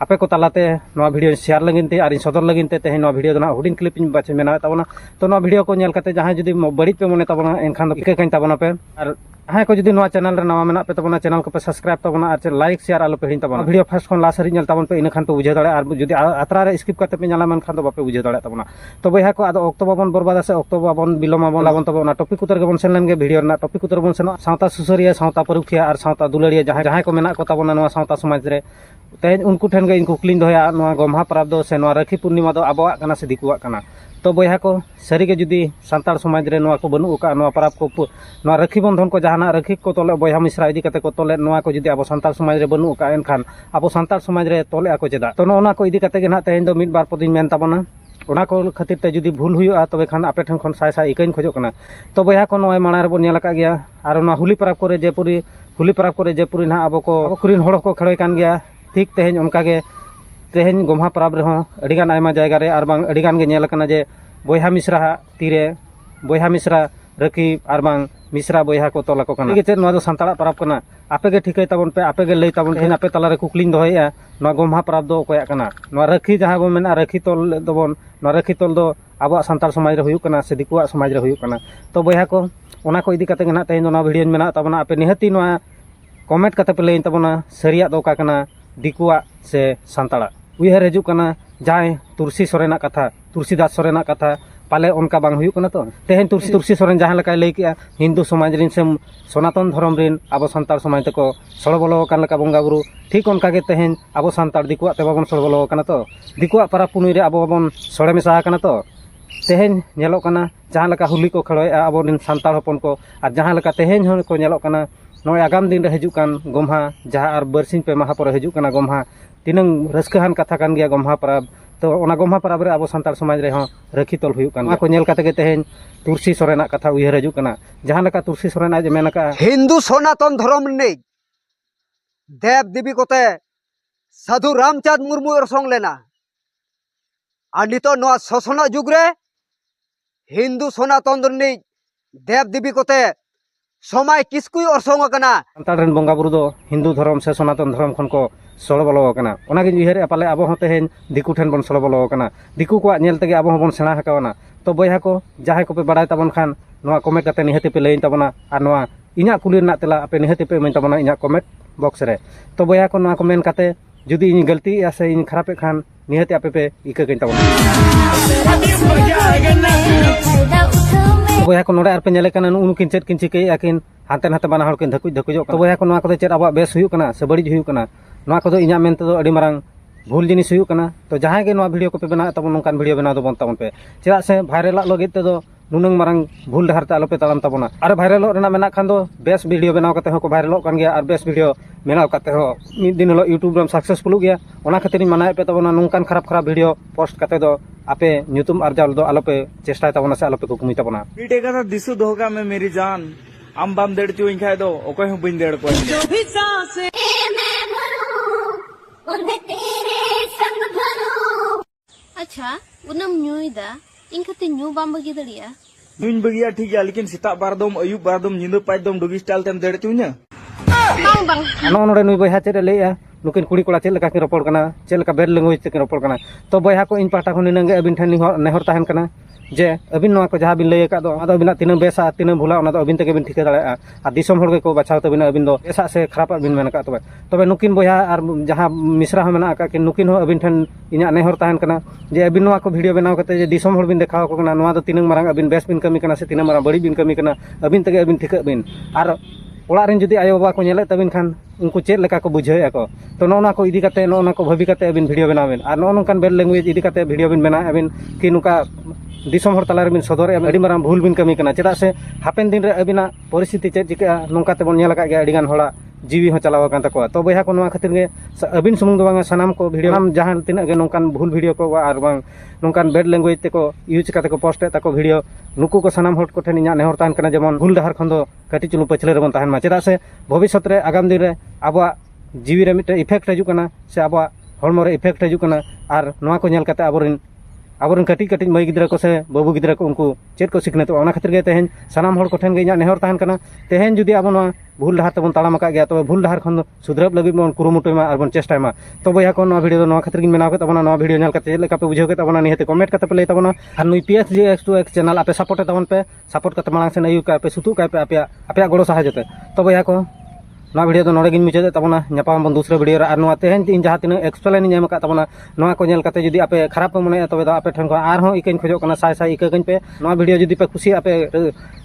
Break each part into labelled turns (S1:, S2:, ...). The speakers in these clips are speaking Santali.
S1: ᱟᱯᱮ ᱠᱚ ᱛᱟᱞᱟᱛᱮ ᱱᱚᱣᱟ ᱵᱷᱤᱰᱤᱭᱳ ᱥᱮᱭᱟᱨ ᱞᱟᱹᱜᱤᱫ ᱛᱮ ᱟᱨ ᱥᱚᱫᱚᱨ ᱞᱟᱹᱜᱤᱫ ᱛᱮ ᱛᱮᱦᱮᱧ ᱱᱚᱣᱟ ᱵᱷᱤᱰᱤᱭᱳ ᱫᱚ ᱱᱟᱦᱟᱜ ᱦᱩᱰᱤᱧ ᱠᱞᱤᱯ ᱤᱧ ᱵᱟᱪᱷᱟᱣ ᱵᱮᱱᱟᱣᱮᱫ ᱛᱟᱵᱚᱱᱟ ᱛᱚ ᱱᱚᱣᱟ ᱵᱷᱤᱰᱤᱭᱳ ᱠᱚ ᱧᱮᱞ ᱠᱟᱛᱮ ᱡᱟᱦᱟᱸᱭ ᱡᱩᱫᱤ ᱵᱟᱹᱲᱤᱡ ᱯᱮ ᱢᱚᱱᱮ ᱛᱟᱵᱚᱱᱟ ᱮᱱᱠᱷᱟᱱ ᱫᱚ ᱤᱠᱟᱹ ᱠᱟᱹᱧ ᱛᱟᱵᱚᱱᱟ ᱯᱮ ᱟᱨ ᱡᱟᱦᱟᱸᱭ ᱠᱚ ᱡᱩᱫᱤ ᱱᱚᱣᱟ ᱪᱮᱱᱮᱞ ᱨᱮ ᱱᱟᱣᱟ ᱢᱮᱱᱟᱜ ᱯᱮ ᱛᱟᱵᱚᱱᱟ ᱪᱮᱱᱮᱞ ᱠᱚᱯᱮ ᱥᱟᱵᱥᱠᱨᱟᱭᱤᱵ ᱛᱟᱵᱚᱱᱟ ᱟᱨ ᱪᱮᱫ ᱞᱟᱭᱤᱠ ᱥᱮᱭᱟᱨ ᱟᱞᱚᱯᱮ ᱦᱤᱲᱤᱧ ᱛᱟᱵᱚᱱᱟ ᱵᱷᱤᱰᱤᱭᱳ ᱯᱷᱟᱥᱴ ᱠᱷᱚᱱ ᱞᱟᱥ ᱦᱟᱹᱨᱤᱡ ᱧᱮᱞ ᱛᱟᱵᱚᱱ ᱯᱮ ᱤᱱᱟᱹᱠᱷᱟᱱ ᱯᱮ ᱵᱩᱡᱷᱟᱹᱣ ᱫᱟᱲᱮᱭᱟᱜᱼᱟ ᱟᱨ ᱡᱩᱫᱤ ᱟᱛᱨᱟ ᱨᱮ ᱥᱠᱤᱯ ᱠᱟᱛᱮ ᱯᱮ ᱧᱮᱞᱟ ᱢᱮᱱᱠᱷᱟᱱ ᱫᱚ ᱵᱟᱯᱮ ᱵᱩᱡᱷᱟᱹᱣ ᱫᱟᱲᱮᱭᱟᱜ ᱛᱟᱵᱚᱱᱟ ᱛᱚ ᱵᱚᱭᱦᱟ ᱠᱚ ᱟᱫᱚ ᱚᱠᱛᱚ ᱵᱟᱵᱚᱱ ᱵᱚᱨᱵᱟᱫᱟ ᱥᱮ ᱚᱠᱛᱚ ᱵᱟᱵᱚᱱ ᱵᱤᱞᱚᱢᱟᱵᱚᱱ ᱞᱟᱵᱚᱱ ᱛᱚᱵᱮ ᱚᱱᱟ ᱴᱚᱯᱤᱠ ᱩᱛᱟᱹᱨ ᱜᱮᱵᱚᱱ ᱥᱮᱱ ᱞᱮᱱᱜᱮ ᱵᱷᱤᱰᱤᱭᱳ ᱨᱮᱱᱟᱜ ᱴᱚᱯᱤᱠ ᱩᱛᱟᱹᱨ ᱵᱚᱱ ᱥᱮᱱᱚᱜᱼᱟ ᱥᱟᱶᱛᱟ ᱥᱩᱥᱟᱹᱨᱤᱭᱟᱹ ᱥᱟᱶᱛᱟ ᱯᱟᱹᱨᱩᱠᱷᱤᱭᱟᱹ ᱟᱨ ᱥᱟᱶᱛᱟ ᱫᱩᱞᱟᱹᱲᱤᱭᱟᱹ ᱡᱟᱦᱟᱸᱭ ᱡᱟᱦᱟᱸᱭ ᱠᱚ ᱢᱮᱱᱟᱜ ᱠᱚ ᱛᱟᱵᱚᱱᱟ ᱱᱚᱣᱟ ᱥᱟᱶᱛᱟ ᱥᱚᱢᱟᱡᱽ ᱨᱮ ᱛᱮᱦᱮᱧ ᱩᱱᱠᱩ ᱴᱷᱮᱱ ᱜᱮ ᱤᱧ ᱠᱩᱠᱞᱤᱧ ᱫᱚᱦᱚᱭᱟ ᱱᱚᱣᱟ ᱜᱚᱢᱦᱟ ᱯᱚᱨᱚᱵᱽ ᱫᱚ ᱥᱮ ᱱᱚᱣᱟ ᱨᱟᱹᱠᱷᱤ ᱯᱩᱨᱱᱤᱢᱟ ᱫᱚ ᱟᱵᱚᱣᱟᱜ ᱠᱟᱱᱟ ᱥᱮ ᱫᱤᱠᱩᱣᱟᱜ ᱠᱟᱱᱟ ᱛᱚ ᱵᱚᱭᱦᱟ ᱠᱚ ᱥᱟᱹᱨᱤᱜᱮ ᱡᱩᱫᱤ ᱥᱟᱱᱛᱟᱲ ᱥᱚᱢᱟᱡᱽ ᱨᱮ ᱱᱚᱣᱟ ᱠᱚ ᱵᱟᱹᱱᱩᱜ ᱟᱠᱟᱫᱼᱟ ᱱᱚᱣᱟ ᱯᱚᱨᱚᱵᱽ ᱠᱚ ᱱᱚᱣᱟ ᱨᱟᱹᱠᱷᱤ ᱵᱚᱱᱫᱷᱚᱱ ᱠᱚ ᱡᱟᱦᱟᱱᱟᱜ ᱨᱟᱹᱠᱷᱤ ᱠᱚ ᱛᱚᱞᱮᱫ ᱵᱚᱭᱦᱟ ᱢᱤᱥᱨᱟ ᱤᱫᱤ ᱠᱟᱛᱮᱫ ᱠᱚ ᱛᱚᱞᱮᱫ ᱱᱚᱣᱟ ᱠᱚ ᱡᱩᱫᱤ ᱟᱵᱚ ᱥᱟᱱᱛᱟᱲ ᱥᱚᱢᱟᱡᱽ ᱨᱮ ᱵᱟᱹᱱᱩᱜ ᱟᱠᱟᱫᱼᱟ ᱮᱱᱠᱷᱟᱱ ᱟᱵᱚ ᱥᱟᱱᱛᱟᱲ ᱥᱚᱢᱟᱡᱽ ᱨᱮ ᱛᱚᱞᱮᱫᱼᱟ ᱠᱚ ᱪᱮᱫᱟᱜ ᱛᱚ ᱱᱚᱜᱼᱚ ᱱᱚᱣᱟ ᱠᱚ ᱤᱫᱤ ᱠᱟᱛᱮᱫ ᱜᱮ ᱱᱟᱦᱟᱜ ᱛᱮᱦᱮᱧ ᱫᱚ ᱢᱤᱫ ᱵᱟᱨ ᱯᱚᱫᱤᱧ ᱢᱮᱱ ᱛᱟᱵᱚᱱᱟ ᱚᱱᱟ ᱠᱚ ᱠᱷᱟᱹᱛᱤᱨ ᱛᱮ ᱡᱩᱫᱤ ᱵᱷᱩᱞ ᱦᱩᱭᱩᱜᱼᱟ ᱛᱚᱵᱮ ᱠᱷᱟᱱ ᱟᱯᱮ ᱴᱷᱮᱱ ᱠᱷᱚᱱ ᱥᱟᱭ ᱥᱟᱭ ᱤᱠᱟᱹᱧ ᱠᱷᱚᱡᱚᱜ ᱠᱟᱱᱟ ᱛᱚ ᱵᱚᱭᱦᱟ ᱠᱚ ᱱᱚᱜᱼᱚᱭ ᱢᱟᱲᱟᱝ ᱨᱮᱵᱚᱱ ᱧᱮᱞ ᱟᱠᱟᱫ ᱜᱮᱭᱟ ᱟᱨ ᱚᱱᱟ ᱦᱩᱞᱤ ᱯᱟᱨᱟᱵᱽ ᱠᱚᱨᱮ ᱡᱮᱯᱩᱨᱤ ᱦᱩᱞᱤ ᱯᱟᱨᱟᱵᱽ ᱠᱚᱨᱮ ᱡᱮᱯᱩᱨᱤ ᱱᱟᱦᱟᱜ ᱟᱵᱚ ᱠᱚ ᱟᱵᱚ ᱠᱚᱨᱮᱱ ᱦᱚᱲ ᱦᱚᱸᱠᱚ ᱠᱷᱮᱲᱚᱭ ᱠᱟᱱ ᱜᱮᱭᱟ ᱴᱷᱤᱠ ᱛᱮᱦᱮᱧ ᱚᱱᱠᱟᱜᱮ ᱛᱮᱦᱮᱧ ᱜᱚᱢᱦᱟ ᱯᱟᱨᱟᱵᱽ ᱨᱮᱦᱚᱸ ᱟᱹᱰᱤᱜᱟᱱ ᱟᱭᱢᱟ ᱡᱟᱭᱜᱟ ᱨᱮ ᱟᱨ ᱵᱟᱝ ᱟᱹᱰᱤᱜᱟᱱ ᱜᱮ ᱧᱮᱞ ᱟᱠᱟᱱᱟ ᱡᱮ ᱵᱚᱭᱦᱟ ᱢᱤᱥᱨᱟ ᱦᱟᱜ ᱛᱤᱨᱮ ᱵᱚᱭᱦᱟ ᱢᱤᱥᱨᱟ ᱨᱟᱹᱠᱷᱤ ᱟᱨ ᱵᱟᱝ ᱢᱤᱥᱨᱟ ᱵᱚᱭᱦᱟ ᱠᱚ ᱛᱚᱞ ᱟᱠᱚ ᱠᱟᱱᱟ ᱪᱮᱫ ᱱᱚᱣᱟ ᱫᱚ ᱥᱟᱱᱛᱟᱲᱟᱜ ᱯᱟᱨᱟᱵᱽ ᱠᱟᱱᱟ ᱟᱯᱮ ᱜᱮ ᱴᱷᱤᱠᱟᱹᱭ ᱛᱟᱵᱚᱱ ᱯᱮ ᱟᱯᱮ ᱜᱮ ᱞᱟᱹᱭ ᱛᱟᱵᱚᱱ ᱯᱮ ᱟᱯᱮ ᱛᱟᱞᱟᱨᱮ ᱠᱩᱠᱞᱤᱧ ᱫᱚᱦᱚᱭᱮᱫᱼᱟ ᱱᱚᱣᱟ ᱜᱚᱢᱦᱟ ᱯᱟᱨᱟᱵᱽ ᱫᱚ ᱚᱠᱚᱭᱟᱜ ᱠᱟᱱᱟ ᱱᱚᱣᱟ ᱨᱟᱹᱠᱷᱤ ᱡᱟᱦᱟᱸ ᱵᱚᱱ ᱢᱮᱱᱟ ᱨᱟᱹᱠᱷᱤ ᱛᱚᱞ ᱞᱮᱫ ᱫᱚᱵᱚᱱ ᱱᱚᱣᱟ ᱨᱟᱹᱠᱷᱤ ᱛᱚᱞ ᱫᱚ ᱟᱵᱚᱣᱟᱜ ᱥᱟᱱᱛᱟᱲ ᱥᱚᱢᱟᱡᱽ ᱨᱮ ᱦᱩᱭᱩᱜ ᱠᱟᱱᱟ ᱥᱮ ᱫᱤᱠᱩᱣᱟᱜ ᱥᱚᱢᱟᱡᱽ ᱨᱮ ᱦᱩᱭᱩᱜ ᱠᱟᱱᱟ ᱛᱚ ᱵᱚᱭᱦᱟ ᱠᱚ ᱚᱱᱟ ᱠᱚ ᱤᱫᱤ ᱠᱟᱛᱮᱫ ᱜᱮ ᱱᱟᱦᱟᱜ ᱛᱮᱦᱮᱧ ᱫᱚ ᱱᱚᱣᱟ ᱵᱷᱤᱰᱭᱳ ᱢᱮᱱᱟᱜ ᱛᱟᱵᱚᱱᱟ ᱟᱯᱮ ᱱᱤᱦᱟᱹᱛ ᱱᱚᱣᱟ ᱠᱚᱢᱮᱱᱴ ᱠᱟᱛᱮᱫ ᱯᱮ ᱞᱟᱹᱭᱟᱹᱧ ᱛᱟᱵᱚᱱᱟ ᱥᱟᱹᱨᱤᱭᱟᱜ ᱫᱚ ᱚᱠᱟ ᱠᱟᱱᱟ ᱫᱤᱠᱩᱣᱟᱜ ᱥᱮ ᱥᱟᱱᱛᱟᱲᱟᱜ ᱩᱭᱦᱟᱹᱨ ᱦᱤᱡᱩᱜ ᱠᱟᱱᱟ ᱡᱟᱦᱟᱸᱭ ᱛᱩᱞᱥᱤ ᱥᱚᱨᱮᱱᱟᱜ ᱠᱟᱛᱷᱟ ᱛᱩᱞᱥᱤ ᱫᱟᱥ ᱥᱚᱨᱮᱱᱟᱜ ᱠᱟᱛᱷᱟ ᱯᱟᱞᱮ ᱚᱱᱠᱟ ᱵᱟᱝ ᱦᱩᱭᱩᱜ ᱠᱟᱱᱟ ᱛᱚ ᱛᱮᱦᱮᱧ ᱛᱩᱞᱥᱤ ᱛᱩᱞᱥᱤ ᱥᱚᱨᱮᱱ ᱡᱟᱦᱟᱸ ᱞᱮᱠᱟᱭ ᱞᱟᱹᱭ ᱠᱮᱜᱼᱟ ᱦᱤᱱᱫᱩ ᱥᱚᱢᱟᱡᱽ ᱨᱮᱱ ᱥᱮ ᱥᱚᱱᱟᱛᱚᱱ ᱫᱷᱚᱨᱚᱢ ᱨᱮᱱ ᱟᱵᱚ ᱥᱟᱱᱛᱟᱲ ᱥᱚᱢᱟᱡᱽ ᱛᱮᱠᱚ ᱥᱚᱲᱚ ᱵᱚᱞᱚ ᱟᱠᱟᱱ ᱞᱮᱠᱟ ᱵᱚᱸᱜᱟᱼᱵᱩᱨᱩ ᱴᱷᱤᱠ ᱚᱱᱠᱟ ᱜᱮ ᱛᱮᱦᱮᱧ ᱟᱵᱚ ᱥᱟᱱᱛᱟᱲ ᱫᱤᱠᱩᱣᱟᱜ ᱛᱮ ᱵᱟᱵᱚᱱ ᱥᱚᱲᱚ ᱵᱚᱞᱚ ᱟᱠᱟᱱᱟ ᱛᱚ ᱫᱤᱠᱩᱣᱟᱜ ᱯᱟᱨᱟᱵᱽ ᱯᱩᱱᱟᱹᱭ ᱨᱮ ᱟᱵᱚ ᱵᱚᱱ ᱥᱚᱲᱮ ᱢᱮᱥᱟ ᱟᱠᱟᱱᱟ ᱛᱚ ᱛᱮᱦᱮᱧ ᱧᱮᱞᱚᱜ ᱠᱟᱱᱟ ᱡᱟᱦᱟᱸ ᱞᱮᱠᱟ ᱦᱳᱞᱤ ᱠᱚ ᱠᱷᱮᱞᱳᱭᱮᱜᱼᱟ ᱟᱵᱚ ᱨᱮᱱ ᱥᱟᱱᱛᱟᱲ ᱦᱚᱯᱚᱱ ᱠᱚ ᱟᱨ ᱡᱟᱦᱟᱸ ᱞᱮᱠᱟ ᱛᱮᱦᱮᱧ ᱦᱚᱸ ᱠᱚ ᱧᱮᱞᱚᱜ ᱠᱟᱱᱟ ᱱᱚᱜᱼᱚᱭ ᱟᱜᱟᱢ ᱫᱤᱱ ᱨᱮ ᱦᱤᱡᱩᱜ ᱠᱟᱱ ᱜᱚᱢᱦᱟ ᱡᱟᱦᱟᱸ ᱟᱨ ᱵᱟᱨᱥᱤᱧ ᱯᱮ ᱢᱟᱦᱟ ᱯᱚᱨᱮ ᱦᱤᱡᱩᱜ ᱠᱟᱱᱟ ᱜᱚᱢᱦᱟ ᱛᱤᱱᱟᱹᱝ ᱨᱟᱹᱥᱠᱟᱹᱣᱟᱱ ᱠᱟᱛᱷᱟ ᱠᱟᱱ ᱜᱮᱭᱟ ᱜᱚᱢᱦᱟ ᱯᱟᱨᱟᱵᱽ ᱛᱚ ᱚᱱᱟ ᱜᱚᱢᱦᱟ ᱯᱟᱨᱟᱵᱽ ᱨᱮ ᱟᱵᱚ ᱥᱟᱱᱛᱟᱲ ᱥᱚᱢᱟᱡᱽ ᱨᱮᱦᱚᱸ ᱨᱟᱹᱠᱷᱤ ᱛᱚᱞ ᱦᱩᱭᱩᱜ ᱠᱟᱱᱟ ᱚᱱᱟ ᱠᱚ ᱧᱮᱞ ᱠᱟᱛᱮ ᱜᱮ ᱛᱮᱦᱮᱧ ᱛᱩᱞᱥᱤ ᱥᱚᱨᱮᱱᱟᱜ ᱠᱟᱛᱷᱟ ᱩᱭᱦᱟᱹᱨ ᱦᱤᱡᱩᱜ ᱠᱟᱱᱟ ᱡᱟᱦᱟᱸ ᱞᱮᱠᱟ ᱛᱩᱞᱥᱤ ᱥᱚᱨᱮᱱ ᱟᱡ ᱢᱮᱱ ᱟᱠᱟᱫᱼᱟ ᱦᱤᱱᱫᱩ ᱥᱚᱱᱟᱛᱚᱱ ᱫᱷᱚᱨᱚᱢ ᱨᱤᱱᱤᱡ ᱫᱮᱵ ᱫᱮᱵᱤ ᱠᱚᱛᱮ ᱥᱟᱫᱷᱩ ᱨᱟᱢᱪᱟᱸᱫᱽ ᱢᱩᱨᱢᱩ ᱚᱨᱥᱚᱝ ᱞᱮᱱᱟ ᱟᱨ ᱱᱤᱛᱚᱜ ᱱᱚᱣᱟ ᱥᱚᱥᱚᱱᱟᱜ ᱡᱩᱜᱽ ᱨᱮ ᱦᱤᱱᱫᱩ ᱥᱚᱱᱟᱛᱚᱱ ᱨᱤᱱᱤᱡ ᱫᱮᱵ ᱫᱮᱵᱤ ᱠᱚᱛᱮ ᱥᱚᱢᱟᱭ ᱠᱤᱥᱠᱩᱭ ᱚᱨᱥᱚᱝ ᱟᱠᱟᱱᱟ ᱥᱟᱱᱛᱟᱲ ᱨᱮᱱ ᱵᱚᱸᱜᱟ ᱵᱩᱨᱩ ᱫᱚ ᱦᱤᱱᱫᱩ ᱫᱷᱚᱨᱚᱢ ᱥᱮ ᱥᱚᱱᱟᱛᱚᱱ ᱫᱷᱚᱨᱚᱢ ᱠᱷᱚᱱ ᱠᱚ ᱥᱚᱲᱚ ᱵᱚᱞᱚ ᱟᱠᱟᱱᱟ ᱚᱱᱟᱜᱤᱧ ᱩᱭᱦᱟᱹᱨᱮᱜᱼᱟ ᱯᱟᱞᱮ ᱟᱵᱚ ᱦᱚᱸ ᱛᱮᱦᱮᱧ ᱫᱤᱠᱩ ᱴᱷᱮᱱ ᱵᱚᱱ ᱥᱚᱲᱚ ᱵᱚᱞᱚ ᱟᱠᱟᱱᱟ ᱫᱤᱠᱩ ᱠᱚᱣᱟᱜ ᱧᱮᱞ ᱛᱮᱜᱮ ᱟᱵᱚ ᱦᱚᱸᱵᱚᱱ ᱥᱮᱬᱟ ᱟᱠᱟᱣᱱᱟ ᱛᱚ ᱵᱚᱭᱦᱟ ᱠᱚ ᱡᱟᱦᱟᱸᱭ ᱠᱚᱯᱮ ᱵᱟᱲᱟᱭ ᱛᱟᱵᱚᱱ ᱠᱷᱟᱱ ᱱᱚᱣᱟ ᱠᱚᱢᱮᱱᱴ ᱠᱟᱛᱮ ᱱᱤᱦᱟᱹᱛᱤ ᱯᱮ ᱞᱟᱹᱭᱟᱹᱧ ᱛᱟᱵᱚᱱᱟ ᱟᱨ ᱱᱚᱣᱟ ᱤᱧᱟᱹᱜ ᱠᱩᱞᱤ ᱨᱮᱱᱟᱜ ᱛᱮᱞᱟ ᱟᱯᱮ ᱱᱤᱦᱟᱹᱛᱤ ᱯᱮ ᱤᱢᱟᱹᱧ ᱛᱟᱵᱚᱱᱟ ᱤᱧᱟᱹᱜ ᱠᱚᱢᱮᱱᱴ ᱵᱚᱠᱥ ᱨᱮ ᱛᱚ ᱵᱚᱭᱦᱟ ᱠᱚ ᱱᱚᱣᱟ ᱠᱚ ᱢᱮᱱ ᱠᱟᱛᱮ ᱡᱩᱫᱤ ᱤᱧ ᱜᱟᱹᱞᱛᱤᱭᱮᱜᱼᱟ ᱥᱮ ᱤᱧ ᱠᱷᱟᱨᱟᱯᱮᱫ ᱠᱷᱟᱱ ᱱᱤᱦᱟᱹᱛ ᱟᱯᱮ ᱯᱮ ᱤᱠᱟᱹ ᱠᱟᱹᱧ ᱛᱟᱵᱚᱱᱟ ᱵᱚᱭᱦᱟ ᱠᱚ ᱱᱚᱰᱮ ᱟᱨ ᱯᱮ ᱧᱮᱞᱮ ᱠᱟᱱᱟ ᱱᱩᱜ ᱱᱩᱠᱤᱱ ᱪᱮᱫ ᱠᱤᱱ ᱪᱤᱠᱟᱹᱭᱮᱜᱼᱟ ᱠᱤᱱ ᱦᱟᱱᱛᱮ ᱱᱟᱛᱮ ᱵᱟᱱᱟ ᱦᱚᱲ ᱠᱤᱱ ᱫᱷᱟᱹᱠᱩᱡ ᱫᱷᱟᱹᱠᱩᱡᱚᱜ ᱠᱟᱱᱟ ᱵᱚᱭᱦᱟ ᱠᱚ ᱱᱚᱣᱟ ᱠᱚᱫᱚ ᱪᱮᱫ ᱟᱵᱚᱣᱟᱜ ᱵᱮᱥ ᱦᱩᱭᱩᱜ ᱠᱟᱱᱟ ᱥᱮ ᱵᱟᱹᱲᱤᱡ ᱦᱩᱭᱩᱜ ᱠᱟᱱᱟ ᱱᱚᱣᱟ ᱠᱚᱫᱚ ᱤᱧᱟᱹᱜ ᱢᱮᱱ ᱛᱮᱫᱚ ᱟᱹᱰᱤ ᱢᱟᱨᱟᱝ ᱵᱷᱩᱞ ᱡᱤᱱᱤᱥ ᱦᱩᱭᱩᱜ ᱠᱟᱱᱟ ᱛᱚ ᱡᱟᱦᱟᱸᱭ ᱜᱮ ᱱᱚᱣᱟ ᱵᱷᱤᱰᱤᱭᱳ ᱠᱚᱯᱮ ᱵᱮᱱᱟᱣᱮᱫ ᱛᱟᱵᱚᱱ ᱱᱚᱝᱠᱟᱱ ᱵᱷᱤᱰᱤᱭᱳ ᱵᱮᱱᱟᱣ ᱫᱚ ᱵᱚᱱᱫᱽ ᱛᱟᱵᱚᱱ ᱯᱮ ᱪᱮᱫᱟᱜ ᱥᱮ ᱵᱷᱟᱭᱨᱟᱞᱟᱜ ᱞᱟᱹᱜᱤᱫ ᱛᱮᱫᱚ ᱱᱩᱱᱟᱹᱝ ᱢᱟᱨᱟᱝ ᱵᱷᱩᱞ ᱰᱟᱦᱟᱨ ᱛᱮ ᱟᱞᱚᱯᱮ ᱛᱟᱲᱟᱢ ᱛᱟᱵᱚᱱᱟ ᱟᱨ ᱵᱷᱟᱭᱨᱟᱞᱚᱜ ᱨᱮᱱᱟᱜ ᱢᱮᱱᱟᱜ ᱠᱷᱟᱱ ᱫᱚ ᱵᱮᱥ ᱵᱷᱤᱰᱤᱭᱳ ᱵᱮᱱᱟᱣ ᱠᱟᱛᱮ ᱦᱚᱸᱠᱚ ᱵᱷᱟᱭᱨᱟᱞᱚᱜ ᱠᱟᱱ ᱜᱮᱭᱟ ᱟᱨ ᱵᱮᱥ ᱵᱷᱤᱰᱤᱭᱳ ᱵᱮᱱᱟᱣ ᱠᱟᱛᱮ ᱦᱚᱸ ᱢᱤᱫ ᱫᱤᱱ ᱦᱤᱞᱳᱜ ᱤᱭᱩᱴᱩᱵᱽ ᱨᱮᱢ ᱥᱟᱠᱥᱮᱥᱯᱷᱩᱞᱚᱜ ᱜᱮᱭᱟ ᱚᱱᱟ ᱠᱷᱟᱹᱛᱤᱨ ᱤᱧ ᱢᱟᱱᱟᱣᱮᱫ ᱯᱮ ᱛᱟᱵᱚᱱᱟ ᱱᱚᱝᱠᱟᱱ ᱠᱷᱟᱨᱟᱯ ᱠᱷᱟᱨᱟᱯ ᱵᱷᱤᱰᱤᱭᱳ ᱯᱳᱥᱴ ᱠᱟᱛᱮ ᱫᱚ ᱟᱯᱮ ᱧᱩᱛᱩᱢ ᱟᱨᱡᱟᱣ ᱫᱚ ᱟᱞᱚᱯᱮ ᱪᱮᱥᱴᱟᱭ ᱛᱟᱵᱚᱱᱟ ᱥᱮ ᱟᱞᱚᱯᱮ ᱠᱩᱠᱢᱩᱭ ᱛᱟᱵᱚᱱᱟ ᱢᱤᱫᱴᱮᱡ ᱠᱟᱛᱷᱟ ᱫᱤᱥᱟᱹ ᱫᱚᱦᱚ ᱠᱟᱜ ᱢᱮ ᱢᱮᱨᱤ ᱡᱟᱱ ᱟᱢ ᱵᱟᱢ ᱫᱟᱹᱲ ᱦᱚᱪᱚᱣᱟᱹᱧ ᱠᱷᱟᱡ ᱫᱚ ᱚᱠᱚᱭ ᱦᱚᱸ ᱵᱟᱹᱧ ᱫᱟᱹᱲ ᱠᱚᱣᱟ ᱟᱪᱪᱷᱟ ᱩᱱᱟᱹᱢ ᱧᱩᱭᱫᱟ ᱤᱧ ᱠᱷᱟᱹᱛᱤᱨ ᱧᱩ ᱵᱟᱢ ᱵᱟᱹᱜᱤ ᱫᱟᱲᱮᱭᱟᱜᱼᱟ ᱧᱩᱧ ᱵᱟᱹᱜᱤᱭᱟ ᱴᱷᱤᱠ ᱜᱮᱭᱟ ᱞᱮᱠᱤᱱ ᱥᱮᱛᱟᱜ ᱵᱟᱨ ᱫᱚᱢ ᱟᱹᱭᱩᱵ ᱵᱟᱨ ᱫᱚᱢ ᱧᱤᱫᱟᱹ ᱯᱟᱸᱪ ᱫᱚᱢ ᱰᱩᱜᱤ ᱥᱴᱟᱭᱤᱞ ᱛᱮᱢ ᱫᱟᱹᱲ ᱦᱚᱪᱚᱧᱟ ᱵᱟᱝ ᱵᱟᱝ ᱱᱚᱜᱼᱚ ᱱᱚᱰᱮ ᱱᱩᱭ ᱵᱚᱭᱦᱟ ᱪᱮᱫ ᱮ ᱞᱟᱹᱭᱮᱜᱼᱟ ᱱᱩᱠᱤᱱ ᱠᱩᱲᱤ ᱠᱚᱲᱟ ᱪᱮᱫ ᱞᱮᱠᱟ ᱠᱤᱱ ᱨᱚᱯᱚᱲ ᱠᱟᱱᱟ ᱪᱮᱫ ᱞᱮᱠᱟ ᱵᱮᱰ ᱞᱮᱝᱜᱩᱭᱮᱡᱽ ᱛᱮᱠᱤᱱ ᱨᱚᱯᱚᱲ ᱠᱟᱱᱟ ᱛᱚ ᱵᱚᱭᱦᱟ ᱠᱚ ᱤᱧ ᱯᱟᱦᱴᱟ ᱠᱷᱚᱱ ᱱᱤᱱᱟᱹᱜ ᱜᱮ ᱟᱹᱵᱤᱱ ᱴᱷᱮᱱ ᱱᱮᱦᱚᱨ ᱛᱟᱦᱮᱱ ᱠᱟᱱᱟ ᱡᱮ ᱟᱹᱵᱤᱱ ᱱᱚᱣᱟ ᱠᱚ ᱡᱟᱦᱟᱸ ᱵᱤᱱ ᱞᱟᱹᱭ ᱟᱠᱟᱫ ᱫᱚ ᱚᱱᱟ ᱫᱚ ᱟᱹᱵᱤᱱᱟᱜ ᱛᱤᱱᱟᱹᱜ ᱵᱮᱥᱟ ᱛᱤᱱᱟᱹᱜ ᱵᱷᱩᱞᱟ ᱚᱱᱟ ᱫᱚ ᱟᱹᱵᱤᱱ ᱛᱮᱜᱮ ᱵᱤᱱ ᱴᱷᱤᱠᱟᱹ ᱫᱟᱲᱮᱭᱟᱜᱼᱟ ᱟᱨ ᱫᱤᱥᱚᱢ ᱦᱚᱲ ᱜᱮᱠᱚ ᱵᱟᱪᱷᱟᱣ ᱛᱟᱹᱵᱤᱱᱟ ᱟᱹᱵᱤᱱ ᱫᱚ ᱵᱮᱥᱟᱜ ᱥᱮ ᱠᱷᱟᱨᱟᱯᱟᱜ ᱵᱤᱱ ᱢᱮᱱ ᱟᱠᱟᱫ ᱛᱚᱵᱮ ᱛᱚᱵᱮ ᱱᱩᱠᱤᱱ ᱵᱚᱭᱦᱟ ᱟᱨ ᱡᱟᱦᱟᱸ ᱢᱤᱥᱨᱟ ᱦᱚᱸ ᱢᱮᱱᱟᱜ ᱟᱠᱟᱫ ᱠᱤᱱ ᱱᱩᱠᱤᱱ ᱦᱚᱸ ᱟᱹᱵᱤᱱ ᱴᱷᱮᱱ ᱤᱧᱟᱹᱜ ᱱᱮᱦᱚᱨ ᱛᱟᱦᱮᱱ ᱠᱟᱱᱟ ᱡᱮ ᱟᱹᱵᱤᱱ ᱱᱚᱣᱟ ᱠᱚ ᱵᱷᱤᱰᱤᱭᱳ ᱵᱮᱱᱟᱣ ᱠᱟᱛᱮ ᱡᱮ ᱫᱤᱥᱚᱢ ᱦᱚᱲ ᱵᱤᱱ ᱫᱮᱠᱷᱟᱣ ᱟᱠᱚ ᱠᱟᱱᱟ ᱱᱚᱣᱟ ᱫᱚ ᱛᱤᱱᱟᱹᱜ ᱢᱟᱨᱟᱝ ᱟᱹᱵᱤᱱ ᱵᱮᱥ ᱵᱤᱱ ᱠᱟᱹᱢᱤ ᱠᱟᱱᱟ ᱥᱮ ᱛᱤᱱᱟᱹᱜ ᱢᱟᱨᱟᱝ ᱵᱟᱹᱲᱤᱡ ᱵᱤᱱ ᱠᱟᱹᱢᱤ ᱠᱟᱱᱟ ᱟᱹᱵᱤᱱ ᱛᱮᱜᱮ ᱟᱹᱵᱤᱱ ᱴᱷᱤᱠᱟᱹᱜ ᱵᱤᱱ ᱟᱨ ᱚᱲᱟᱜ ᱨᱮᱱ ᱡᱩᱫᱤ ᱟᱭᱳ ᱵᱟᱵᱟ ᱠᱚ ᱧᱮᱞᱮᱫ ᱛᱟᱹᱵᱤᱱ ᱠᱷᱟᱱ ᱩᱱᱠᱩ ᱪᱮᱫ ᱞᱮᱠᱟ ᱠᱚ ᱵᱩᱡᱷᱟᱹᱣᱮᱫ ᱟᱠᱚ ᱛᱚ ᱱᱚᱜᱼᱚ ᱱᱚᱣᱟ ᱠᱚ ᱤᱫᱤ ᱠᱟᱛᱮ ᱱᱚᱜᱼᱚ ᱱᱚᱣᱟ ᱠᱚ ᱵᱷᱟᱹᱵᱤ ᱠᱟᱛᱮ ᱟᱹᱵᱤᱱ ᱵᱷᱤᱰᱭᱳ ᱵᱮᱱᱟᱣ ᱵᱮᱱ ᱟᱨ ᱱᱚᱜᱼᱚ ᱱᱚᱝᱠᱟᱱ ᱵᱮᱰ ᱞᱮᱝᱜᱩᱭᱮᱡᱽ ᱤᱫᱤ ᱠᱟᱛᱮ ᱵᱷᱤᱰᱭᱳ ᱵᱮᱱ ᱵᱮᱱᱟᱣ ᱟᱹᱵᱤᱱ ᱠᱤ ᱱᱚᱝᱠᱟ ᱫᱤᱥᱚᱢ ᱦᱚᱲ ᱛᱟᱞᱟ ᱨᱮᱵᱤᱱ ᱥᱚᱫᱚᱨᱮᱜᱼᱟ ᱟᱹᱰᱤ ᱢᱟᱨᱟᱝ ᱵᱷᱩᱞ ᱵᱤᱱ ᱠᱟᱹᱢᱤ ᱠᱟᱱᱟ ᱪᱮᱫᱟᱜ ᱥᱮ ᱦᱟᱯᱮᱱ ᱫᱤᱱ ᱨᱮ ᱟᱹᱵᱤᱱᱟᱜ ᱯᱚᱨᱤᱥᱛᱷᱤᱛᱤ ᱪᱮᱫ ᱪᱤᱠᱟᱹᱜᱼᱟ ᱱᱚᱝᱠᱟ ᱛᱮᱵᱚᱱ ᱧᱮᱞ ᱟᱠᱟᱫ ᱜᱮᱭᱟ ᱟᱹᱰᱤ ᱜᱟᱱ ᱦᱚᱲᱟᱜ ᱡᱤᱣᱤ ᱦᱚᱸ ᱪᱟᱞᱟᱣ ᱟᱠᱟᱱ ᱛᱟᱠᱚᱣᱟ ᱛᱚ ᱵᱚᱭᱦᱟ ᱠᱚ ᱱᱚᱣᱟ ᱠᱷᱟᱹᱛᱤᱨ ᱜᱮ ᱟᱹᱵᱤᱱ ᱥᱩᱢᱩᱝ ᱫᱚ ᱵᱟᱝᱟ ᱥᱟᱱᱟᱢ ᱠᱚ ᱵᱷᱤᱰᱭᱳ ᱟᱢ ᱡᱟᱦᱟᱸ ᱛᱤᱱᱟᱹᱜ ᱜᱮ ᱱᱚᱝᱠᱟᱱ ᱵᱷᱩᱞ ᱵᱷᱤᱰᱭᱳ ᱠᱚ ᱟᱨ ᱵᱟᱝ ᱱᱚᱝᱠᱟᱱ ᱵᱮᱰ ᱞᱮᱝᱜᱩᱭᱮᱡᱽ ᱛᱮᱠᱚ ᱤᱭᱩᱡᱽ ᱠᱟᱛᱮ ᱠᱚ ᱯᱳᱥᱴ ᱮᱫ ᱛᱟᱠᱚ ᱵᱷᱤᱰᱭᱳ ᱱᱩᱠᱩ ᱠᱚ ᱥᱟᱱᱟᱢ ᱦᱚᱲ ᱠᱚᱴᱷᱮᱱ ᱤᱧᱟᱹᱜ ᱱᱮᱦᱚᱨ ᱛᱟᱦᱮᱱ ᱠᱟᱱᱟ ᱡᱮᱢᱚᱱ ᱵᱷᱩᱞ ᱰᱟᱦᱟᱨ ᱠᱷᱚᱱ ᱫᱚ ᱠᱟᱹᱴᱤᱡ ᱪᱩᱞᱩᱝ ᱯᱟᱹᱪᱷᱞᱟᱹ ᱨᱮᱵᱚᱱ ᱛᱟᱦᱮᱱ ᱢᱟ ᱪᱮᱫᱟᱜ ᱥᱮ ᱵᱷᱚᱵᱤᱥᱥᱚᱛ ᱨᱮ ᱟᱜᱟᱢ ᱫᱤᱱ ᱨᱮ ᱟᱵᱚᱣᱟᱜ ᱡᱤᱣᱤ ᱨᱮ ᱢᱤᱫᱴᱮᱱ ᱤᱯᱷᱮᱠᱴ ᱦᱤᱡᱩᱜ ᱠᱟᱱᱟ ᱥᱮ ᱟᱵᱚᱣᱟᱜ ᱦᱚᱲᱢᱚ ᱨᱮ ᱤᱯᱷᱮᱠᱴ ᱦᱤᱡᱩᱜ ᱠᱟᱱᱟ ᱟᱨ ᱱᱚᱣᱟ ᱠᱚ ᱧᱮᱞ ᱠᱟᱛᱮ ᱟᱵᱚᱨᱮᱱ ᱟᱵᱚᱨᱮᱱ ᱠᱟᱹᱴᱤᱡ ᱠᱟᱹᱴᱤᱡ ᱢᱟᱹᱭ ᱜᱤᱫᱽᱨᱟᱹ ᱠᱚ ᱥᱮ ᱵᱟᱹᱵᱩ ᱜᱤᱫᱽᱨᱟᱹ ᱠᱚ ᱩᱱᱠᱩ ᱪᱮᱫ ᱠᱚ ᱥᱤᱠᱷᱱᱟᱹᱛᱚᱜᱼᱟ ᱚᱱᱟ ᱠᱷᱟᱹᱛᱤᱨ ᱜᱮ ᱛᱮᱦᱮᱧ ᱥᱟᱱᱟᱢ ᱦᱚᱲ ᱠᱚᱴᱷᱮᱱ ᱜᱮ ᱤᱧᱟᱹᱜ ᱱᱮᱦᱚᱨ ᱛᱟᱦᱮᱱ ᱠᱟᱱᱟ ᱛᱮᱦᱮᱧ ᱡᱩᱫᱤ ᱟᱵᱚ ᱱᱚᱣᱟ ᱵᱷᱩᱞ ᱰᱟᱦᱟᱨ ᱛᱮᱵᱚᱱ ᱛᱟᱲᱟᱢ ᱟᱠᱟᱫ ᱜᱮᱭᱟ ᱛᱚᱵᱮ ᱵᱷᱩᱞ ᱰᱟᱦᱟᱨ ᱠᱷᱚᱱ ᱫᱚ ᱥᱩᱫᱷᱨᱟᱹᱜ ᱞᱟᱹᱜᱤᱫ ᱵᱚᱱ ᱠᱩᱨᱩᱢᱩᱴᱩᱭ ᱢᱟ ᱟᱨ ᱵᱚᱱ ᱪᱮᱥᱴᱟᱭ ᱢᱟ ᱛᱚ ᱵᱚᱭᱦᱟ ᱠᱚ ᱱᱚᱣᱟ ᱵᱷᱤᱰᱤᱭᱳ ᱫᱚ ᱱᱚᱣᱟ ᱠᱷᱟᱹᱛᱤᱨ ᱜᱤᱧ ᱵᱮᱱᱟᱣ ᱠᱮᱫ ᱛᱟᱵᱚᱱᱟ ᱱᱚᱣᱟ ᱵᱷᱤᱰᱤᱭᱳ ᱧᱮᱞ ᱠᱟᱛᱮ ᱪᱮᱫ ᱞᱮᱠᱟ ᱯᱮ ᱵᱩᱡᱷᱟᱹᱣ ᱠᱮᱫ ᱛᱟᱵᱚᱱᱟ ᱱᱤᱦᱟᱹᱛ ᱠᱚᱢᱮᱱᱴ ᱠᱟᱛᱮ ᱯᱮ ᱞᱟᱹᱭ ᱛᱟᱵᱚᱱᱟ ᱟᱨ ᱱᱩᱭ P S G X two X channel ᱟᱯᱮ ᱥᱟᱯᱳᱨᱴ ᱛᱟᱵᱚᱱ ᱯᱮ ᱥᱟᱯᱳᱨᱴ ᱠᱟᱛᱮ ᱢᱟᱲᱟᱝ ᱥᱮᱱ ᱟᱹᱭᱩᱨ ᱠᱟᱭ ᱯᱮ ᱥᱩᱛᱩᱜ ᱠᱟᱭ ᱯᱮ ᱟᱯᱮᱭᱟᱜ ᱟᱯᱮᱭᱟᱜ ᱜᱚᱲᱚ ᱥᱟᱦᱟᱡᱽ ᱛᱮ ᱛᱚ ᱵᱚᱭᱦᱟ ᱠᱚ ᱱᱚᱣᱟ ᱵᱷᱤᱰᱤᱭᱳ ᱫᱚ ᱱᱚᱰᱮ ᱜᱤᱧ ᱢᱩᱪᱟᱹᱫᱮᱫ ᱛᱟᱵᱚᱱᱟ ᱧᱟᱯᱟᱢ ᱵᱚᱱ ᱫᱩᱥᱨᱟ ᱵᱷᱤᱰᱤᱭᱳ ᱨᱮ ᱟᱨ ᱱᱚᱣᱟ ᱛᱮᱦᱮᱧ ᱤᱧ ᱡᱟᱦᱟᱸ ᱛᱤᱱᱟᱹᱜ ᱮᱠᱥᱯᱞᱮᱱ ᱤᱧ ᱮᱢ ᱟᱠᱟᱫ ᱛᱟᱵᱚᱱᱟ ᱱᱚᱣᱟ ᱠᱚ ᱧᱮᱞ ᱠᱟᱛᱮ ᱡᱩᱫᱤ ᱟᱯᱮ ᱠᱷᱟᱨᱟᱯ ᱯᱮ ᱢᱚᱱᱮᱭᱟ ᱛᱚᱵᱮ ᱫᱚ ᱟᱯᱮ ᱴᱷᱮᱱ ᱠᱷᱚᱱ ᱟᱨᱦᱚᱸ ᱤᱠᱟᱹᱧ ᱠᱷᱚᱡᱚᱜ ᱠᱟᱱᱟ ᱥᱟᱭ ᱥᱟᱭ ᱤᱠᱟᱹ ᱠᱟᱹᱧ ᱯᱮ ᱱᱚᱣᱟ ᱵᱷᱤᱰᱤᱭᱳ ᱡᱩᱫᱤ ᱯᱮ ᱠᱩᱥᱤᱭᱟᱜᱼᱟ ᱯᱮ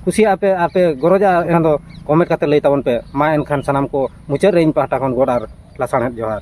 S1: ᱠᱩᱥᱤᱭᱟᱜᱼᱟ ᱯᱮ ᱟᱨ ᱯᱮ ᱜᱚᱨᱚᱡᱟ ᱮᱱᱠᱷᱟᱱ ᱫᱚ ᱠᱚᱢᱮᱱᱴ ᱠᱟᱛᱮ ᱞᱟᱹᱭ ᱛᱟᱵᱚᱱ ᱯᱮ ᱢᱟ ᱮᱱᱠᱷᱟᱱ ᱥᱟᱱᱟᱢ ᱠᱚ ᱢᱩᱪᱟᱹᱫ ᱨᱮ ᱤᱧ ᱯᱟᱦᱴᱟ ᱠᱷᱚᱱ ᱜᱚᱰ ᱟᱨ ᱞᱟᱥᱟᱬᱦᱮᱫ ᱡᱚᱦᱟᱨ